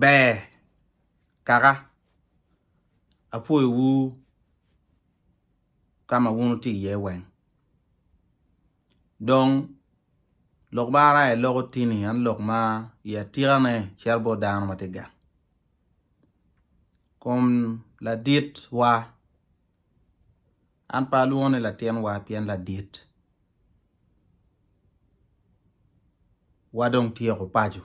Ber kaka, apwoyowu ka ma wun wutye iye weng. Dong lok ma an aye aloko tini en lok ma i atikane cito bot dano ma tye gang. Kun laditwa. An pe alwongo ni latinwa pien ladit wa dong tyeko paco.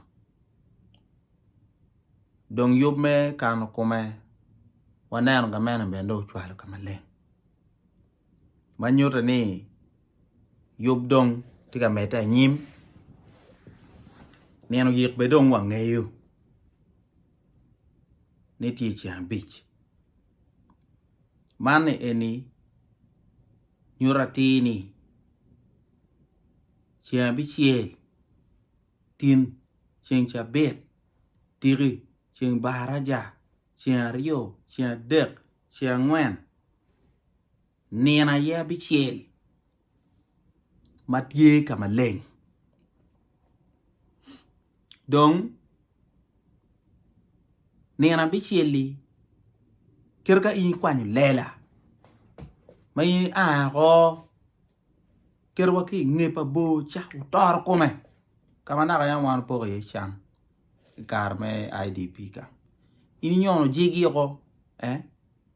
Dong yub me kano kome waneno ka mene bene dong ocwalo ka maleng. Ma nyuto ni yub dong tye ka medde anyim, nino oyik bene dong wangeyo ni tye ceng abic. Man ni eni nyuto atir ni ceng abicel tin ceng cabit tiki ceng baraja ceng aryo ceng adek ceng angwen Nino aye abicel ma tye ka maleng dong nino abicel-li kit ka in ikwanyo lela ma in ia woko kit wa ki inge pa bor ca wutoro kome ka ma naka yam wan wupoko iye can i kare me IDP ka in inyono jigi woko.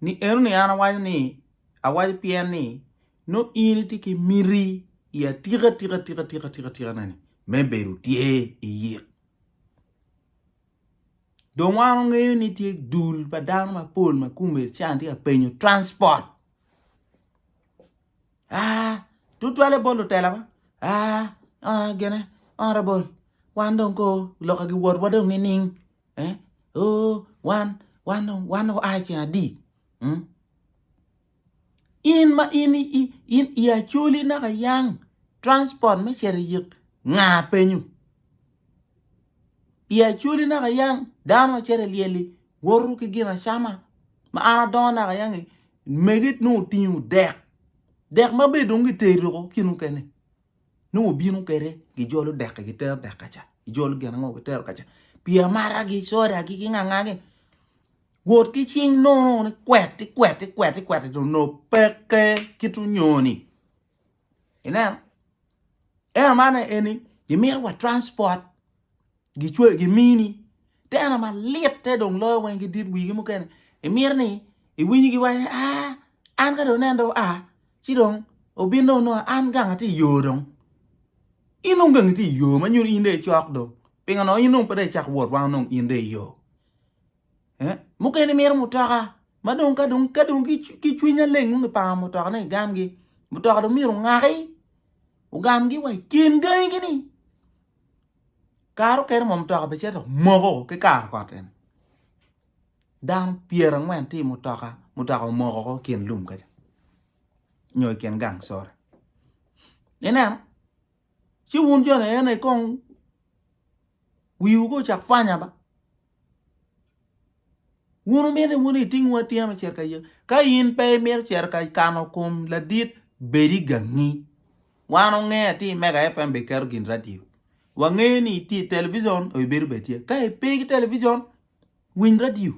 ni eno ni an awaco ni awaco pien ni nongo in itye ki miti i atika tika tika tika tika tika neni me bedo tye i yik dong wan wangeyo ni tye dul pa dano mapol ma kome can tye ka penyo transport Aa, tutwalle bot lutela ba. Aa, aa, gene, aa, rabol. Wan dong ko loka gi wotwa dong nining? Eh? Oh, wan, wan dong, wan dong aa ceng adi? Hmm? In ma in, in, in i acoli naka yang transport me ceri yik nga penyu? I acwali naka yang dano macito i lyel-li woto ki gin acama ma an adongo naka yang-ngi megi nongo otingo dek, dek ma be dong giteri woko ki mukene nongo obino kwede gijolo dek-ki gitero dek kaca gijolo gin ango gitero kaca pii amaragi, sodagi ki ngangagi wot ki cing nono ni kwet ikwet ikwet ikwet dong onongo peke kit onyoni. Ineno? Eno man eni gimito wa transport gicwe gimini teno malit te dong loyo weng gidit wigi mukene imito ni iwinyi giwaco ah an ka dong nen dong a ci dong obin dong nongo an gang atye i yo dong in dong gang itye i yo ma nyuto in dong icok dong pingo dong in dong pe dong icak wot wang dong in dong iyo. Eh? Mukene mito mutoka ma dong ka dong ka dong ki cwiny aleng dong kipango mutoka ne igamgi. Mutoka dong myero ongaki ogamgi wa i kin gangi gini. Kare okene mo mutoka be cito moko ki karo kot en. Dano pyera angwen ti mutoka mutoka omoko ko kin lum kaca. Nyo i kin gang sore. Ineno? Ci wun jo ni ene kong wiwu ko cak pwanya ba. Wun wumito ni wun itingwu atinga me cito ka Yecu? Ka in pe imito cito ka kano kom ladit, bedi gangi. Wan onge ati i Mega FM be keto gin radio. Wangeyo ni itye i television or ibedo be tye. Ka ipe ki television, winy radio.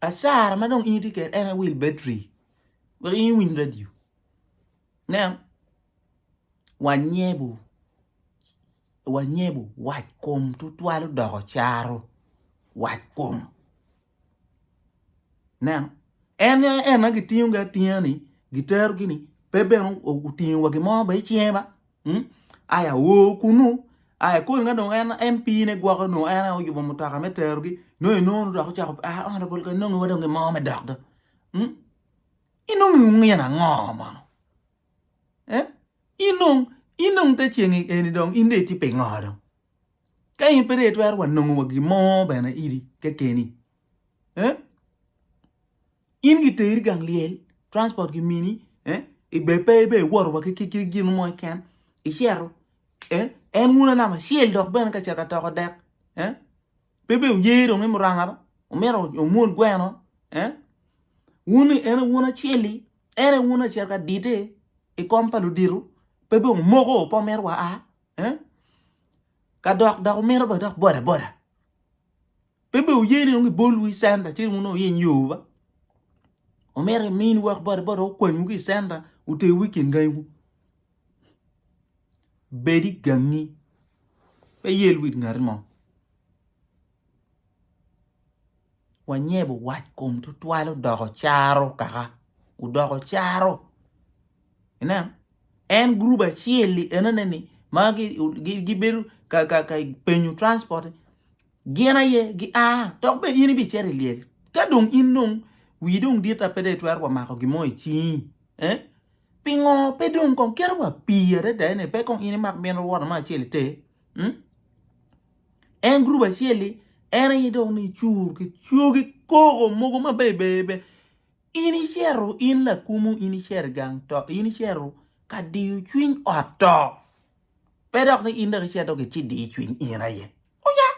Acara ma dong in itye kede en e wil betri. Wek in iwiny radio. Nen, wanyebu wanyebo wac kom tutwal odoko caro wac kom neno en en ma gitingo ga atinga ni gitero gini pe bene otingo wa gimo ba icinge ba hmm? aya wo kunu aya kol nga dong en MP ne gwoko no en oyubo mutoka me tero gi no i nono dok ochako a ah, honorable ka nongo wa dong gimo me dok ga hmm? inongo ngin ango mano eh in dong in dong te ceng eni dong in dong itye pingo dong ka in pe dong itwero wa nongo wa gin mo bene idi kekeni eh in giteri gang lyel transport gimini eh ibe pe ibe iwoto wa ki ki ki gin mo keken icito eh en uno namba acel dok bene ka cito atoko dek eh pe be uye dong i muranga ba omito omwod gweno eh wun en wun acel-li En aye wun acel ka dite i kom pa ludito, pe dong omoko pe omito wa a, eh? Ka dok dok omito ba dok boda boda. Pe be oye ni dong gibolwu i centa ci wun wuyiny yowu ba. Omito imini wek boda boda okwanywu ki i centa oterwu i kin gangiwu. Bed i gangi pe iyel wit ngati mo. wanyebo wac kom tutwal odoko caro kaka odoko caro inen en gurup acel-li enoni ni ma gibedo ka penyo transport gin aye gia dok bene in ibicito i lyel ka dong in dong wii dong dit ma pe dong itwero wa mako gin mo i cingi eh pingo pe dong kong kite wa pii adada-ni pe kong in imak miti woto mo acel iter En group acel-li, en aye dong ni cur ki cogi koko mogo ma bebebe. In icero in lakumu in icero i gang to in icero ka diyo cwiny ot to. Pe dok ni in dok icero dok ici diyo cwiny in aye. Oya!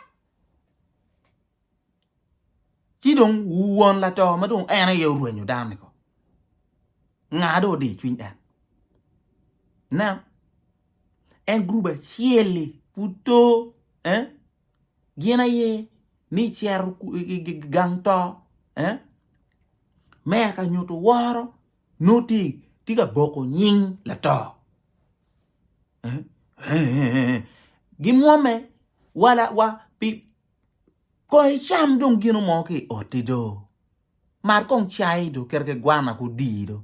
ci dong won lato ma dong en aye orwenyo dano ni ko nga dong odiyo cwiny en nen en gurup acel-li pud to gin aye ni cito gang to me ka nyuto woro nongo tye ka boko nying lato gimwomme wa Kong icam dong gino mo ki i otti do, mar kong cai do kit ki gwana ki odii do,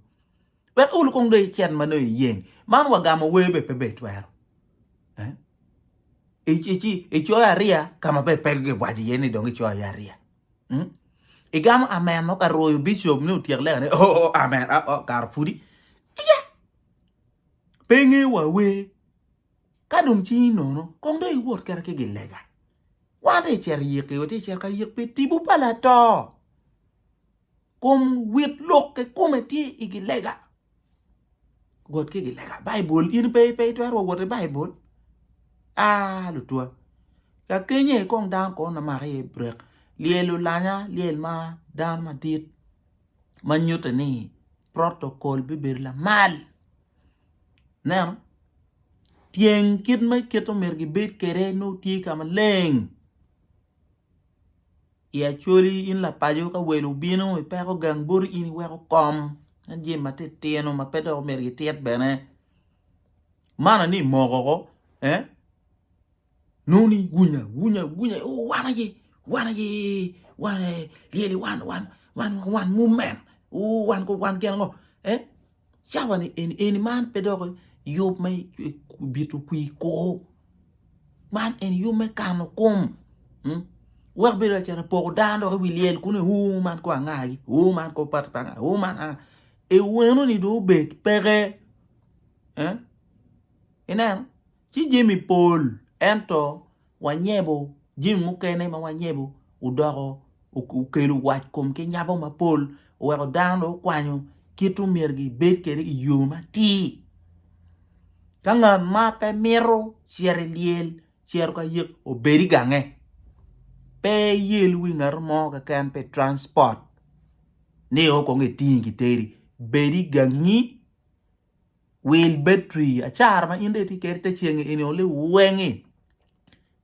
wek olu kong dong icit ma nongo iyeng. Man wagamo wer bene pe itwero. Icoyo ariya ka ma pe giwaco iye ni dong icoyo iye ariya. Igamo amen nongo ka rwoyo bicop ni otyek lekane oo amen kara pudi. Iya! Pe ingeyo wa wer. Ka dong cingi nono, kong dong iwot kene ki gilega. Wan dong icito iyiki, wati icito ka yik pi tibu pa lato. Kom wit lok kikome tye i gilega. Wot ki gilega. Baibul in pe pe itwero wa wot i Baibul. Ah lutwa. Ka kenye kong dano kono na maka iye brek. Lyel olanya, lyel ma dano madit ma nyutte ni protocol bibedo lamal. Ineno? Tyeng kit ma kite myero gibed kwede nongo tye ka maleng i Acholi in lapaco ka wel obino ipeko gang boti in iweko kom en jami matitino ma pe dok myero gitit bene. Manna ni imoko ko eh? Noni gunya gunya gunya o wan aye wan aye wan lyeli wan wan wan wan mumen o wan ko wan gin ango e cawa ni eni eni man pe dok yub me bito kwi kor man eni yub me kano kom wek bedo lacen apoko dano dok i wi lyel kunu o man ko angagi o man ko pati pa angagi o man anga eweno ni dong obed peke ineno ci jami pol, ento wanyebo jami mukene ma wanyebo odoko okelo wac kom ki nyabo mapol, oweko dano dong okwanyo kit ma myero gibed kwede i yo matir. Ka ngat ma pe mito cito i lyel cito ka yek obed i gange, pe iyel wi ngat mo keken pi transport ni kong etingi kiteri, bed i gangi Wil betri acara ma in dong itye kwede i te ceng-ngi eni oli weng-ngi,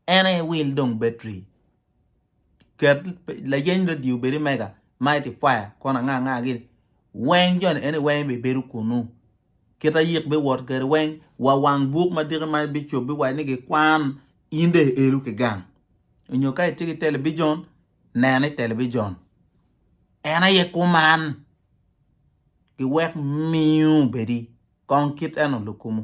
en aye wil dong betri. Ket layeny redio obed i mega, multiplier kono anga anga gini, weng jo ni en aye weng bibedo kunnu. Kit ma yik biwot kwede weng, wa wang buk ma diki ma bicop biwaco ni gikwan, in dong ielu ki gang. Nyo ka itye ki telebijon, nen i telebijon. En aye kuman, giwek miyo obedi kong kit eno lukumu.